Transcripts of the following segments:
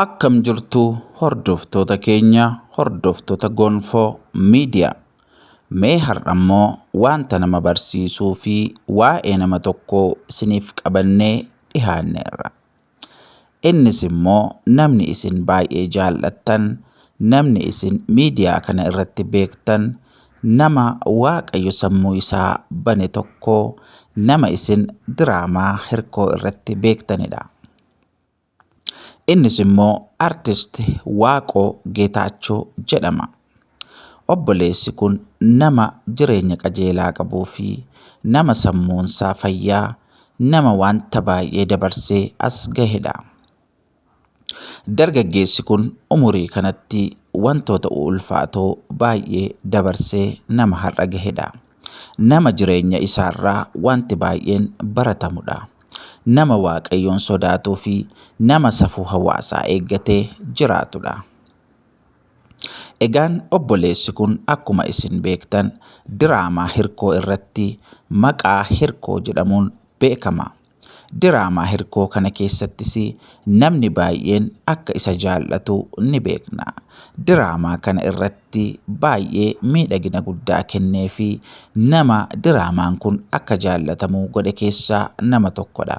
Akkam jirtu hordoftoota keenya hordoftoota gonfoo miidiyaa. Mee har'a immoo wanta nama barsiisuu fi waa'ee nama tokkoo isiniif qabannee dhihaanneerra. Innis immoo namni isin baay'ee jaallattan, namni isin miidiyaa kana irratti beektan, Nama waaqayyo sammuu isaa bane tokko nama isin diraamaa hirkoo irratti beektanidha. Innis immoo artist Waaqoo Geetaachoo jedhama. Obboleessi kun nama jireenya qajeelaa qabuu fi nama sammuunsaa fayyaa nama wanta baay'ee dabarsee as gahedha. Dargaggeessi kun umurii kanatti wantoota ulfaatoo baay'ee dabarsee nama har'a gahedha. Nama jireenya isaarraa wanti baay'een baratamudha. Nama Waaqayyoon sodaatuu fi nama safuu hawaasaa eeggatee jiraatudha. Egaan obboleessi kun akkuma isin beektan diraamaa hirkoo irratti maqaa hirkoo jedhamuun beekama. Diraamaa hirkoo kana keessattis namni baay'een akka isa jaallatu ni beekna. Diraamaa kana irratti baay'ee miidhagina guddaa kennee fi nama diraamaan kun akka jaallatamu godhe keessaa nama tokkodha.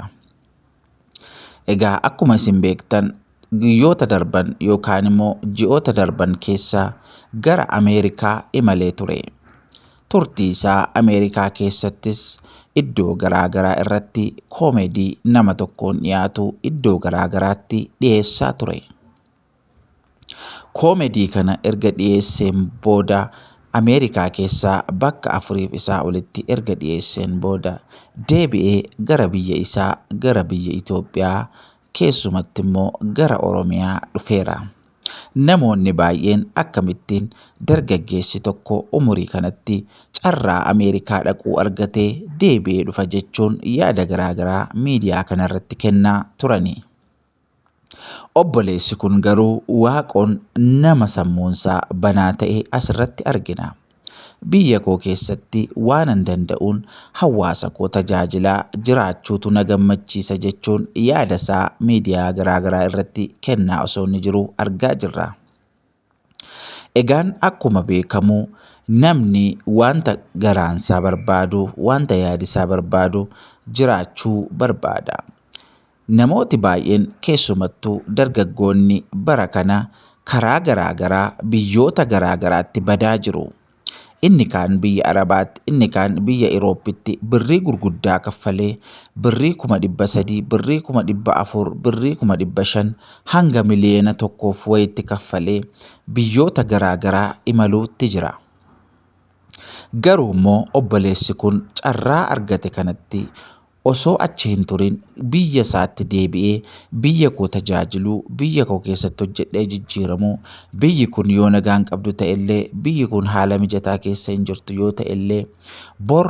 Egaa akkuma isin beektan guyyoota darban yookaan immoo ji'oota darban keessa gara Ameerikaa imalee ture. Turtii isaa Ameerikaa keessattis iddoo garaa garaa irratti koomedii nama tokkoon dhiyaatu iddoo garaa garaatti dhiyeessaa ture. Koomedii kana erga dhiyeesseen booda Ameerikaa keessaa bakka afuriif isaa olitti erga dhiyeesseen booda deebi'ee gara biyya isaa gara biyya Itoophiyaa keessumatti immoo gara Oromiyaa dhufeera. Namoonni baay'een akkamittiin dargaggeessi tokko umurii kanatti carraa Ameerikaa dhaquu argatee deebi'ee dhufa jechuun yaada garaagaraa miidiyaa kanarratti kennaa turani. Obboleessi kun garuu waaqoon nama sammuunsaa banaa ta'e asirratti argina. Biyya koo keessatti waanan danda'uun hawaasa koo tajaajilaa jiraachuutu na gammachiisa jechuun yaada isaa miidiyaa garaagaraa irratti kennaa osoo inni jiru argaa jirra. Egaan akkuma beekamu namni wanta garaansaa barbaadu, wanta yaadisaa barbaadu jiraachuu barbaada. Namooti baay'een keessumattuu dargaggoonni bara kana karaa garaa garaa biyyoota garaa garaatti badaa jiru. Inni kaan biyya Arabaatti, inni kaan biyya Irooppitti birrii gurguddaa kaffalee birrii kuma dhibba sadii, birrii kuma dhibba afur, birrii kuma dhibba shan hanga miliyeena tokkoof wayitti kaffalee biyyoota garaa garaa imaluutti jira. Garuu immoo obboleessi kun carraa argate kanatti osoo achi hin turin biyya isaatti deebi'ee biyya koo tajaajiluu, biyya koo keessatti hojjedhee jijjiiramuu, biyyi kun yoo nagaa hin qabdu ta'ellee, biyyi kun haala mijataa keessa hin jirtu yoo ta'ellee, bor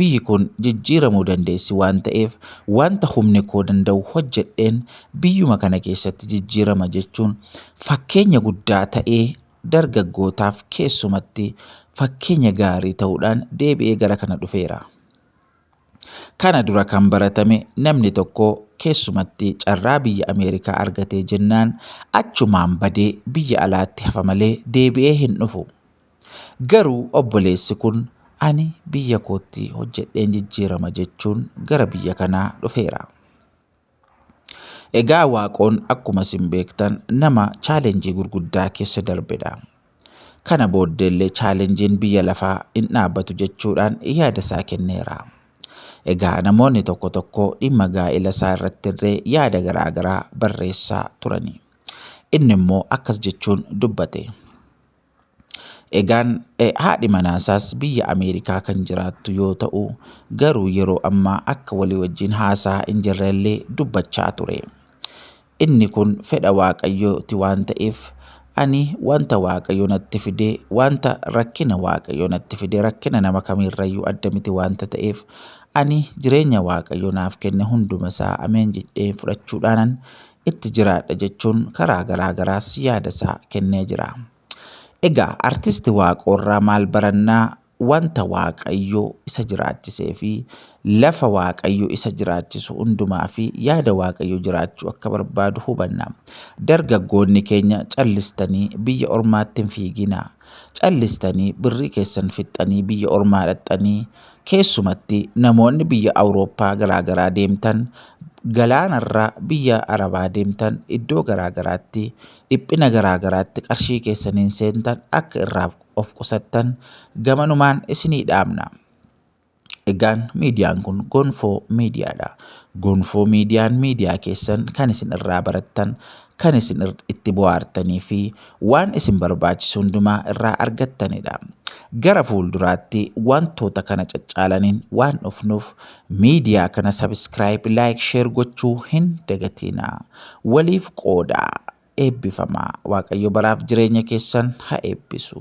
biyyi kun jijjiiramuu dandeessi waan ta'eef wanta humni koo danda'u hojjedheen biyyuma kana keessatti jijjiirama jechuun fakkeenya guddaa ta'ee dargaggootaaf keessumatti fakkeenya gaarii ta'uudhaan deebi'ee gara kana dhufeera. Kana dura kan baratame namni tokko keessumatti carraa biyya Ameerikaa argatee jennaan achumaan badee biyya alaatti hafa malee deebi'ee hin dhufu. Garuu obboleessi kun ani biyya kootti hojjedheen jijjiirama jechuun gara biyya kanaa dhufeera. Egaa Waaqoon akkuma isin beektan nama chaalenjii gurguddaa keessa darbedha. Kana booddeellee chaalenjiin biyya lafaa hin dhaabbatu jechuudhaan yaada isaa kenneera. Egaa namoonni tokko tokko dhimma gaa'ela isaa irratti illee yaada garaa garaa barreessaa turani. Inni immoo akkas jechuun dubbate. Egaan haadhi manaasaas biyya Ameerikaa kan jiraattu yoo ta'u garuu yeroo ammaa akka walii wajjin haasaa hin jirrellee dubbachaa ture. Inni kun fedha waaqayyooti waan ta'eef ani wanta waaqayyo natti fide wanta rakkina waaqayyo natti fide rakkina nama kamiirrayyuu adda miti wanta ta'eef ani jireenya waaqayyo naaf kenne hunduma isaa ameen jedhee fudhachuudhaanan itti jiraadha jechuun karaa garaa garaas yaada isaa kennee jira. Egaa artisti Waaqoorraa maal barannaa? Wanta Waaqayyo isa jiraachisee fi lafa Waaqayyo isa jiraachisu hundumaa fi yaada Waaqayyo jiraachuu akka barbaadu hubanna. Dargaggoonni keenya callistanii biyya ormaatti hin fiiginaa. Callistanii birrii keessan fixxanii biyya ormaa dhaqxanii Keessumatti namoonni biyya Awurooppaa garaa garaa deemtan, galaanarra biyya Arabaa deemtan iddoo garaa garaatti dhiphina garaa garaatti qarshii keessaniin seentan akka irraa of qusattan gamanumaan isinii dhaamna. Egaan miidiyaan kun Gonfoo Miidiyaadha. Gonfoo Miidiyaan miidiyaa keessan kan isin irraa barattan kan isin itti bohaartanii fi waan isin barbaachisu hundumaa irraa argattanidha. Gara fuulduraatti wantoota kana caccaalaniin waan dhufnuuf miidiyaa kana sabiskiraayib, laayik, sheer gochuu hin dagatiina. Waliif qoodaa. Eebbifamaa. Waaqayyo baraaf jireenya keessan ha eebbisu.